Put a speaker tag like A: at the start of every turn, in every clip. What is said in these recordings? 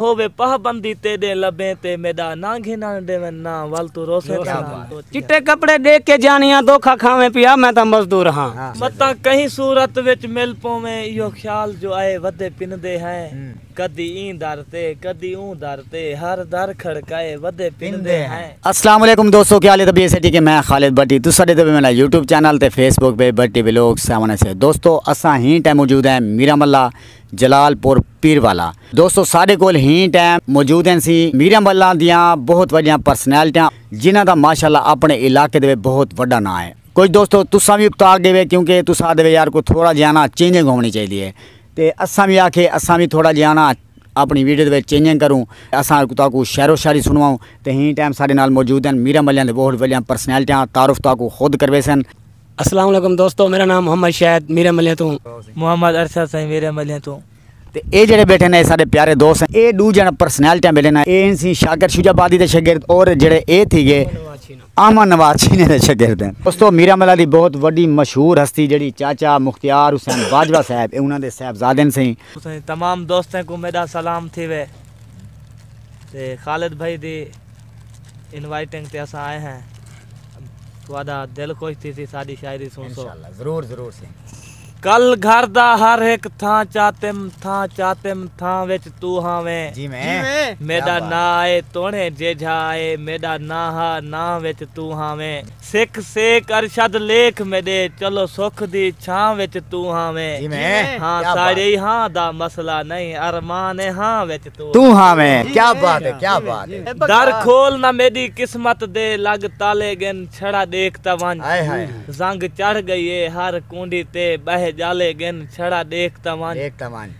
A: ہووے پہبندی تیڈے لبیں تے میڈا ناں گھنن ڈیون نہ ول توں روسیں تاں نہ سوچ کے۔ چٹے
B: کپڑے ڈیکھ کے جانیاں دھوکا کھاویں پیا میں تاں مزدور ہاں۔ متاں کہیں
A: صورت وچ مل پوویں ایہو خیال جو آئے ودے پندے ہیں کدی ایں در تے کدی اوں در تے ہر در کھڑکائے ودے پندے ہیں۔ السلام علیکم دوستو
C: کیا حال ہے طبیعت سے ٹھیک ہے میں خالد بٹی تساں ڈے تے وی میڈا یوٹیوب چینل تے فیس بک پہ بٹی ولاگز سیون ایس ہے دوستو اساں ہین ٹائم موجود ہیں میراملا جلال پور پیر والا دوستو ساڈے کول ہیں ٹائم موجود ہیں سی میرم اللہ دیاں بہت وڈیاں پرسنالٹیاں جنہاں دا ماشاء اللہ اپنے علاقے دے بہت وڈا ناں ہے کچھ دوستو تساں وی ابتا گے وے کیونکہ تساں آدھے وے یار کو تھوڑا جیاں نا چینجنگ ہونی چاہیے دی ہے تے اساں وی آکھے اساں وی تھوڑا جیاں نا اپنی ویڈیو دے چینجنگ کروں اساں کو تاکو شعر و شاعری سنواؤں تے ہیں ٹائم ساڈے نال موجود ہیں میرم اللہ دے بہت وڈیاں پرسنالٹیاں تعارف تاکو خود کرویسن السلام علیکم
B: دوستو میرا نام محمد شاہد میرے ملیاں توں محمد ارشد
A: سائیں میرے ملیاں توں تے اے جڑے
C: بیٹھے نے سارے پیارے دوست ہیں اے دو جن پرسنالٹیاں بیٹھے نا اے سی شاکر شجا بادی دے شاگرد اور جڑے اے تھی گے احمد نواز چھینے دے شاگرد ہیں دوستو میرا ملا دی بہت وڈی مشہور ہستی جڑی چاچا مختیار حسین باجوہ صاحب اے انہاں دے صاحبزادے سیں تمام دوستاں کو
A: میرا سلام تھی وے تے خالد بھائی دی انوائٹنگ تے اساں آئے ہیں تہاڈا دل خوش تھیسی ساڈی شاعری سن سو انشاءاللہ ضرور ضرور سین
C: کل گھر
A: دا ہر ہک تھاں چاتم تھاں چاتم تھاں وچ تو ہاویں جی میں
C: میڈا نا اے
A: تونے جیجھا اے میڈا نا ہا ناں وچ تو ہاویں۔ سکھ سیک ارشد لیکھ میݙے چلو سکھ دی چھاں وچ توں ہاں ویں ہاں
C: ساڑے ای ہاں
A: دا مسئلہ نئیں ارمان اے ہاں وچ توں ہاں ویں
C: کیا بات اے کیا بات اے در کھول نہ
A: میݙی قسمت دے لڳ تالے ڳن چھڑا ݙیکھ تاں ونڄ زنگ چڑھ ڳئی اے ہر کونڈی تے ٻہہ ڄالے ڳن چھڑا ݙیکھ تاں ونڄ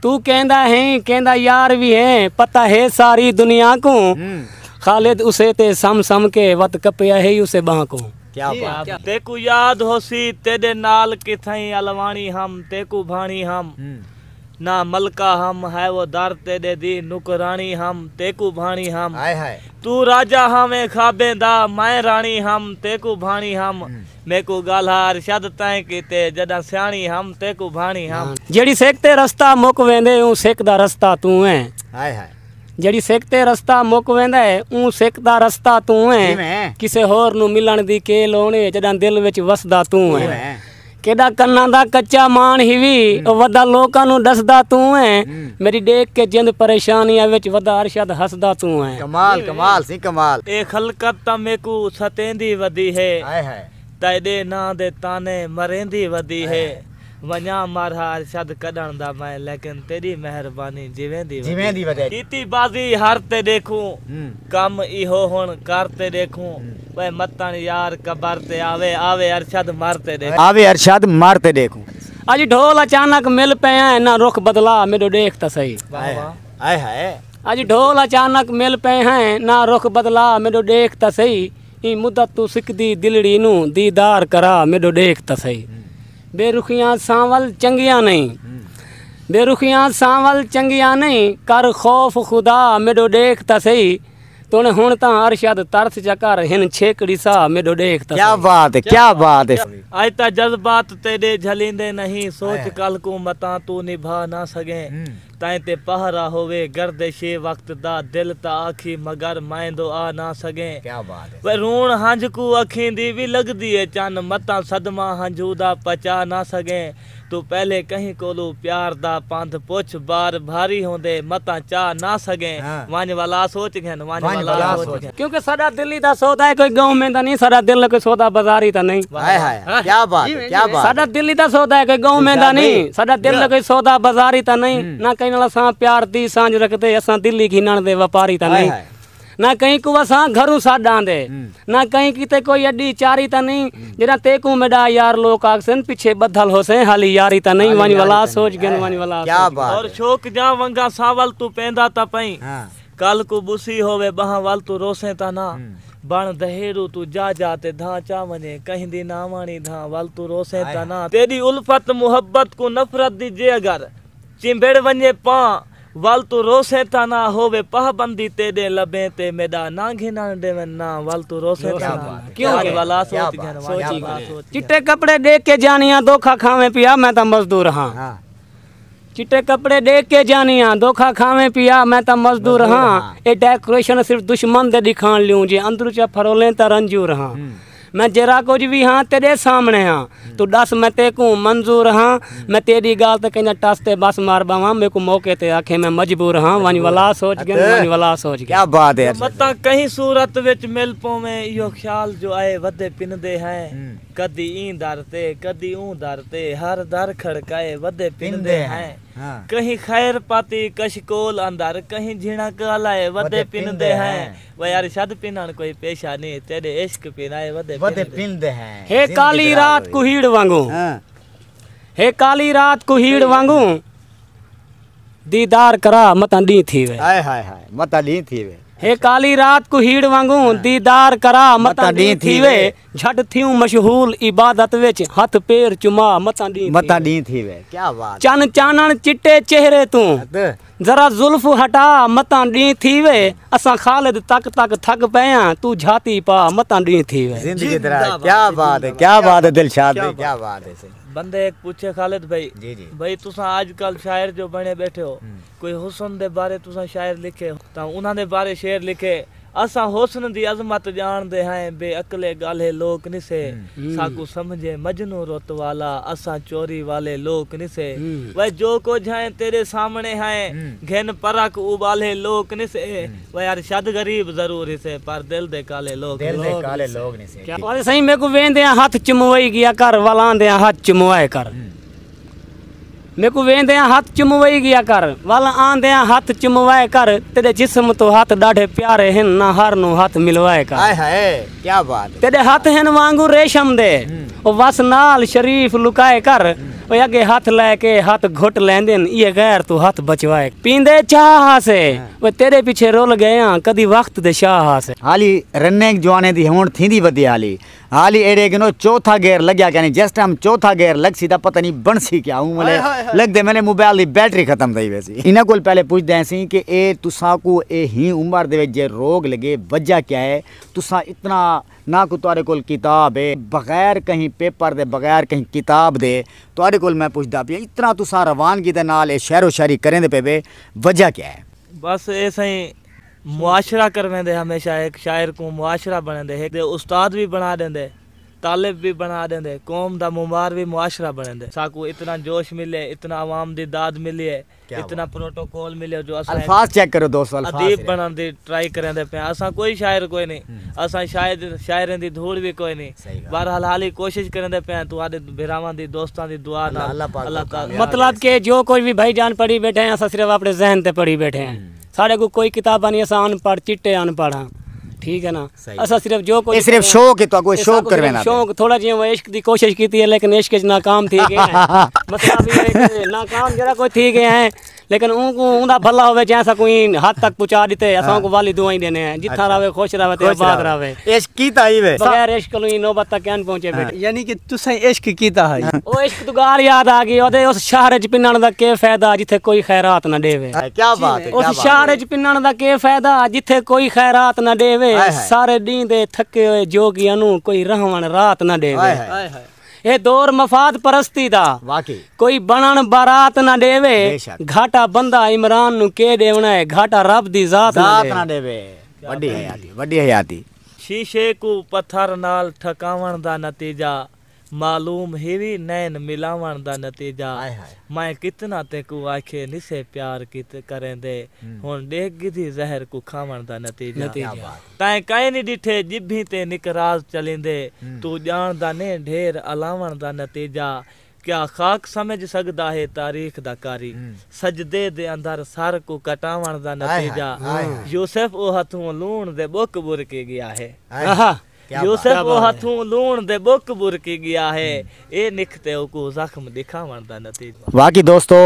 B: توں کیندا ہیں کیندا یار وی ہے پتہ ہے ساری دنیا کوں خالد اسے تے سم سم کے وت کپیا ہے اسے بانہہ کوں کیا بات ہے
C: تیکوں یاد ہوسی
A: تیڈے نال کتھائیں الواݨی ہم تیکوں بھاݨی ہم نہ ملکہ ہم ہے وہ در تیڈے دی نوکراݨی ہم تیکوں بھاݨی ہم توں راجہ ہاویں خوابیں دا میں راݨی ہم تیکوں بھاݨی ہم میکوں ڳالھا ارشد تیں کیتے۔ جݙاں سیاݨی ہم تیکوں بھاݨی ہم۔ جیڑھی سک تے رستہ
B: مک ویندے اوں سک دا رستہ توں ایں۔ ہائے ہائے۔ جیڑھی سک تے رستہ مک ویندا ہے اوں سک دا رستہ توں ایں۔ کیویں؟ کسے ہور نوں ملݨ دی کے لوڑ اے جݙاں دل وچ وسدا توں ایں۔ کیویں؟ کیݙا کناں دا کچا ماݨ ہیوی او ودا لوکاں نوں ݙسدا توں ایں۔ میݙی ݙیکھ کے جند پریشانیاں وچ ودا ارشد ہسدا توں ہیں۔ کمال کمال سی
C: کمال۔ اے خلقت تاں
A: میکوں ستیندی ودی ہے۔ ہائے ہائے۔ تیݙے ناں دے طعنے مریندی ودی ہے۔ ونڄاں مر ہا ارشد کݙݨ دا میں لیکن تیݙی مہربانی جیویندی ودی ہے۔ کیتی بازی ہر تے ݙیکھوں۔ کم ایہو ہݨ کر تے ݙیکھوں۔ وے متݨ یار قبر تے آوے آوے ارشد مر تے ݙیکھوں۔ آوے ارشد مر تے
C: ݙیکھوں۔ اج ڈھول
B: اچانک مل پئے ہیں نہ رخ بدلا میڈو ڈیکھ تاں سہی ہائے ہائے
C: اج ڈھول
B: اچانک مل پئے ہیں نہ رخ بدلا میڈو ڈیکھ تاں سہی ایں مدت توں سکدی دلڑی نوں دیدار کرا میڈو ڈیکھ تاں سہی بے رخیاں سانول چنگیاں نہیں بے رخیاں سانول چنگیاں نہیں کر خوف خدا میڈو ڈیکھ تاں سہی تونے ہن تاں ارشد ترس چا کر ہن چھیکڑی سا میڈو ڈیکھ تسیں۔ کیا بات ہے کیا
C: بات ہے۔ اج تاں جذبات
A: تیڈے جھلیندے نہیں سوچ کل کوں متاں توں نبھا نہ سگیں تائیں تے پہرا ہووے گردش اے وقت دا دل تاں آکھی مگر مائندو آ نہ سگیں وے
C: رون ہنجھ
A: کوں اکھیں دی وی لگدی اے چن متاں صدمہ ہنجھوں دا پچا نہ سگیں۔ توں پہلے کہیں کولوں پیار دا پندھ پچھ بار بھاری ہوندے متاں چاہ نہ سگیں ونج والا سوچ گھن ونج والا سوچ گھن۔ کیونکہ ساڈا دل ہی تاں
B: سودا ہے کوئی گاؤں میں تاں نہیں ساڈا دل کوئی سودا بازاری تاں نہیں ہائے ہائے کیا
C: بات ہے کیا بات ہے ساڈا دل ہی تاں سودا ہے
B: کوئی گاؤں میں تاں نہیں ساڈا دل کوئی سودا بازاری تاں نہیں نہ کہیں نال اساں پیار دی سانجھ رکھدے اساں دل ہی گھنن دے وپاری تاں نہیں نہ کہیں کو وساں گھروں سڈ آندے نہ کہیں کیتے کوئی اڈی چاری تا نہیں جڑا تے کو میڈا یار لوک آکسن پیچھے بدھل ہو سیں حالی یاری تا نہیں ونج ولا سوچ گن ونج ولا کیا بات اور شوق
C: جاں ونگا
A: ساول تو پیندا تا پئیں کل کو بوسی ہووے بہاں ول تو روسیں تا نہ بن دہیرو تو جا جا تے دھاں چا ونجیں کہیں دی نہ وانی دھاں ول تو روسیں تا نہ تیڈی الفت محبت کو نفرت دی جے اگر چمبڑ ونجے پاں ول توں روسیں تاں نہ ہووے پاہ بندی تیڈیں لبیں تے میڈا ناں گھنن ڈیون نہ ول توں روسیں تاں نہ کیوں اج والا سوچ گھن وانجا والا سوچ گھن چٹے کپڑے
B: ڈیکھ کے جانیاں دھوکھا کھاویں پیا میں تاں مزدور ہاں چٹے کپڑے ڈیکھ کے جانیاں دھوکھا کھاویں پیا میں تاں مزدور ہاں اے ڈیکوریشن صرف دشمن دے ڈکھان لیوں جے اندروں چا پھرولیں تاں رنجور ہاں میں جیرھا کجھ وی ہاں تیڈے سامنے ہاں توں ڈس میں تیکوں منظور ہاں میں تیڈی گال تے کیندا ٹس تے بس مار باواں میکوں موقع تے آکھیں میں مجبور ہاں ونج ولا سوچ گن ونج ولا سوچ گن کیا بات ہے متاں کہیں
C: صورت
A: وچ مل پوویں ایہو خیال جو آئے ودے پندے ہیں کدی ایں در تے کدی اوں در تے ہر در کھڑکائے ودے پندے ہیں کہیں خیر پاتی کشکول اندر کہیں جھنک الائے ودے پندے ہیں وے ارشد پنݨ کوئی پیشہ نی تیݙے عشق پن آئے ودے پن دے ہیں
C: ہے کالی رات
B: کوہیڑ وانگوں ہے کالی رات کوہیڑ وانگوں دیدار کرا متاں ݙینہہ تھی وے ہائے ہائے ہائے متاں
C: ݙینہہ تھی وے ہے کالی رات
B: کوہیڑ وانگوں دیدار کرا متاں ݙینہہ تھی وے جھٹ تھیوں مشغول عبادت وچ ہتھ پیر چما متاں ݙینہہ تھی وے
C: چن چانݨ چٹے
B: چہرے توں ذرا زلف ہٹا متاں ڈینہہ تھیوے اساں خالد تک تک تھک پئے آں توں جھاتی پا متاں ڈینہہ تھیوے زندگی دراز کیا
C: بات ہے کیا بات ہے دلشاد بھائی کیا بات ہے سہی بندہ ہک پوچھے
A: خالد بھائی جی جی بھائی تساں اج کل شاعر جو بنے بیٹھے ہو کوئی حسن دے بارے تساں شاعر لکھے تاں انہاں دے بارے شعر لکھے اساں حسن دی عظمت ڄاݨ دے ہئیں بے عقلے ڳالھے لوک نی سے ساکوں سمجھے مجنوں رت والا اساں چوری والے لوک نی سے وے جو کجھ ہئیں تیݙے سامݨے ہئیں گھن پرکھ اوٻالھے لوک نی سے وے ارشد غریب ضرور ہیسے پر دل دے کالھے لوک نی
B: سے۔ آدھے سئیں میکوں ویندیاں ہتھ چموئی ڳیا کر ول آندیاں ہتھ چموائے کر۔ میکوں ویندیاں ہتھ چموئی گیا کر ول آندیاں ہتھ چموائے کر تیڈے جسم توں ہتھ ڈاڈھے پیارے ہن نہ ہر نوں ہتھ ملوائے کر ہائے ہائے کیا
C: بات ہے تیڈے ہتھ ہن وانگوں
B: ریشم دے او وس نال شریف لکائے کر اوے اگے ہتھ لے کے ہتھ گھٹ لیندن ایے غیر توں ہتھ بچوائے کر پیندے چاہ ہاسے اوے تیڈے پیچھے رول گئے آں کدی وقت دے شاہ ہاسے۔ ہالی رننگ
C: جوانے دی ہونڑ تھیندی ودی ہالی۔ حالی ایڈے گنو چوتھا گیئر لگیا کینی جس ٹائم چوتھا گیئر لگسی تاں پتہ نی بنسی کیا اوں ملے لگدے ملے موبائل دی بیٹری ختم تھئی ویسی انہاں کول پہلے پچھدے ہیسیں کہ اے تساں کو اے ہی عمر دے وچ جے روگ لگے وجہ کیا ہے تساں اتنا نہ کو تہاڈے کول کتاب ہے بغیر کہیں پیپر دے بغیر کہیں کتاب دے تہاڈے کول میں پچھدا پیاں اتنا تساں روانگی دے نال اے شعر و شاعری کریندے پے وے وجہ کیا ہے۔ بس اے سئیں۔
A: معاشرہ کرویندے ہمیشہ ہک شاعر کوں معاشرہ بنڑیندے ہک دے استاد وی بنڑا ڈیندے طالب وی بنڑا ڈیندے قوم دا معمار وی معاشرہ بنڑیندے ساکوں اتنا جوش ملیے اتنا عوام دی داد ملیے اتنا پروٹوکول ملیو جو اساں ہک
C: ادیب بنڑن دی
A: ٹرائی کریندے پیاں اساں کوئی شاعر کوئی نی اساں شاید شاعریں دی دھوڑ وی کوئی نی بہرحال حالی کوشش کریندے پیاں تہاڈے بھراواں دی دوستاں دی دعا نال اللہ تعالی مطلب کہ جو کچھ
B: وی بھائی جان پڑھی بیٹھے ہیں اساں صرف اپنڑے ذہن تے پڑھی بیٹھے ہیں۔ ساڈے کول کوئی کتاباں نی اساں ان پڑھ چٹے ان پڑھ ہاں ٹھیک ہے نا اساں صرف جو کچھ اے صرف شوق ہے تو اگو
C: شوق کر وینا شوق تھوڑا جیاں میں عشق
B: دی کوشش کیتی ہے لیکن عشق وچ ناکام تھی گئے ہیں مسئلہ بھی ہے کہ ناکام جڑا کوئی تھی گئے ہیں لیکن اون کو اوندا بھلا ہوے جے اساں کوئی حد تک پہنچا دیتے اساں کو والی دعائیں دینے ہیں جتھاں رہے خوش رہے تے آباد رہے عشق کیتا ہئی وے۔
C: بغیر عشق کنوں ایں نوبت
B: تک کین پہنچے بھئی۔ یعنی کہ تساں عشق
D: کیتا ہئی۔ او عشق توں گالھ
B: یاد آ گئی۔ اودے اس شہر اچ پنݨ دا کے فیدہ جتھے کوئی خیرات نہ ڈیوے۔ کیا بات ہے۔ اس
C: شہر اچ پنݨ
B: دا کے فیدہ جتھے کوئی خیرات نہ ڈیوے۔ سارے ڈینہہ دے تھکے ہوئے جوگی انوں کوئی رہوݨ رات نہ ڈیوے۔ اے دور مفاد پرستی دا۔ واقعی۔ کوئی
C: بنݨ
B: بارات نہ ڈیوے۔ گھاٹا بندہ عمران نوں کے ڈیوݨا ہے۔ گھاٹا رب دی ذات نہ ڈیوے۔
C: وݙی حیاتی، وݙی حیاتی۔ شیشے کوں
A: پتھر نال ٹھکاوݨ دا نتیجہ معلوم ہیوی نین ملاوݨ دا نتیجہ ہائے ہائے۔ میں کتنا تیکوں آکھے نسے پیار کیت کریندے ہݨ ݙیکھ گدھی زہر کوں کھاوݨ دا نتیجہ کیا بات ہے۔ تیں کائنی ݙٹھے ڄبھیں تے نکراز چلیندے توں ڄاݨدا نیں ڈھیر الاوݨ دا نتیجہ کیا خاک سمجھ سڳدا ہے تاریخ دا قاری سجدے دے اندر سر کوں کٹاوݨ دا نتیجہ یوسف او ہتھوں لوݨ دے ٻک ٻرکی ڳیا ہے یوسف او ہتھوں لوݨ دے ٻک ٻرکی ڳیا ہے اے نکھتے اوکوں زخم ݙکھاوݨ دا نتیجہ۔ واقعی دوستو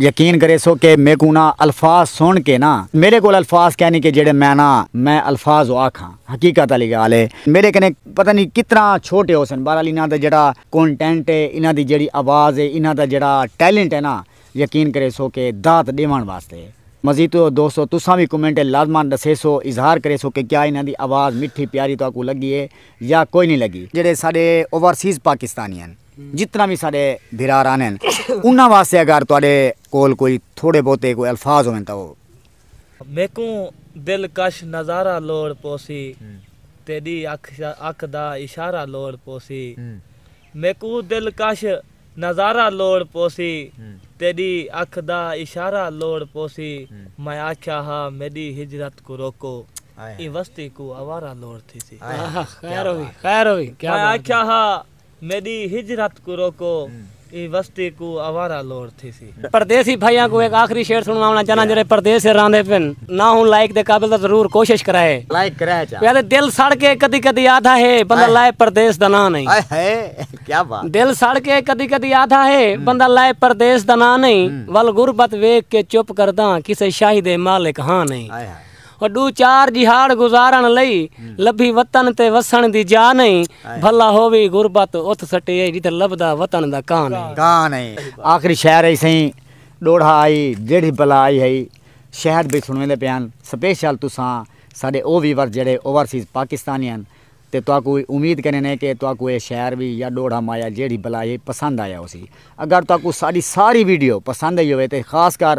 C: یقین کریسو کہ میکوں نا الفاظ سن کے نا میڈے کول الفاظ کینی کہ جیڑے میں نا میں الفاظ او آکھاں حقیقت آلی گال ہے میڈے کنے پتہ نی کتنا چھوٹے ہوسن بہرحال انہاں دا جیڑا کونٹینٹ ہے انہاں دی جیڑھی آواز ہے انہاں دا جیڑھا ٹیلنٹ ہے نا یقین کریسو کہ داد ڈیوان واسطے ہے مزید تو دوستو تساں وی کمنٹ اچ لازمان ڈسیسو اظہار کریسو کہ کیا انہاں دی آواز مٹھی پیاری تہاکوں لگی ہے یا کوئی نی لگی۔ جیڑھے ساڈے اوورسیز پاکستانی ہن جتنا وی ساڈے بھرا رہندے ہن انہاں واسطے اگر تہاڈے کول کوئی تھوڑے بہتے کوئی الفاظ ہوون تاں او۔ میکوں
A: دلکش نظارہ لوڑ پوسی تیڈی اکھ دا اشارہ لوڑ پوسی میکوں دلکش نظارہ لوڑ پوسی تیڈی اکھ دا اشارہ لوڑ پوسی میں آکھیا ہا میڈی ہجرت کوں روکو ایں وستی کوں آوارہ لوڑ تھیسی
B: میں آکھیا ہا
A: میݙی ہجرت کوں روکو ایں وستی کوں آوارہ لوڑ تھیسی۔ پردیسی بھائیاں کوں ہک
B: آخری شعر سنڑواوݨا چاہناں جیہڑے پردیس اچ رہندے پن۔ نہ ہوں لائق دے قابل تاں ضرور کوشش کرائے۔ لائق کرائے چا۔ پیادے
C: دل سڑ کے
B: کدی کدی آدھا ہے بندہ لائے پردیس دا ناں نئیں۔ ہائے ہائے کیا
C: بات۔ دل سڑ کے کدی
B: کدی آدھا ہے بندہ لائے پردیس دا ناں نئیں۔ ول غربت ویکھ کے چپ کرداں کسے شاہی دے مالک ہاں نئیں۔ ہائے ہائے۔ او ڈو چار جیہاڑ گزارن لئی لبھی وطن تے وسن دی جاہ نئیں بھلا ہووی غربت اتھ سٹے اے جتھے لبھدا وطن دا کاں نئیں۔ آخری شعر اے
C: سئیں ڈوڑھا آئی جیڑھی بلا آئی ہئی شہد بھئی سنویندے پئے ہن سپیشل تساں ساڈے او ویورز جیڑھے اوورسیز پاکستانی ہن تے تہاکوں امید کرین اے کہ تہاکوں اے شعر وی یا ڈوڑھا مایا جیڑھی بلا آئی ہئی پسند آیا ہوسی اگر تہاکوں ساڈی ساری ویڈیو پسند آئی ہووے تے خاص کر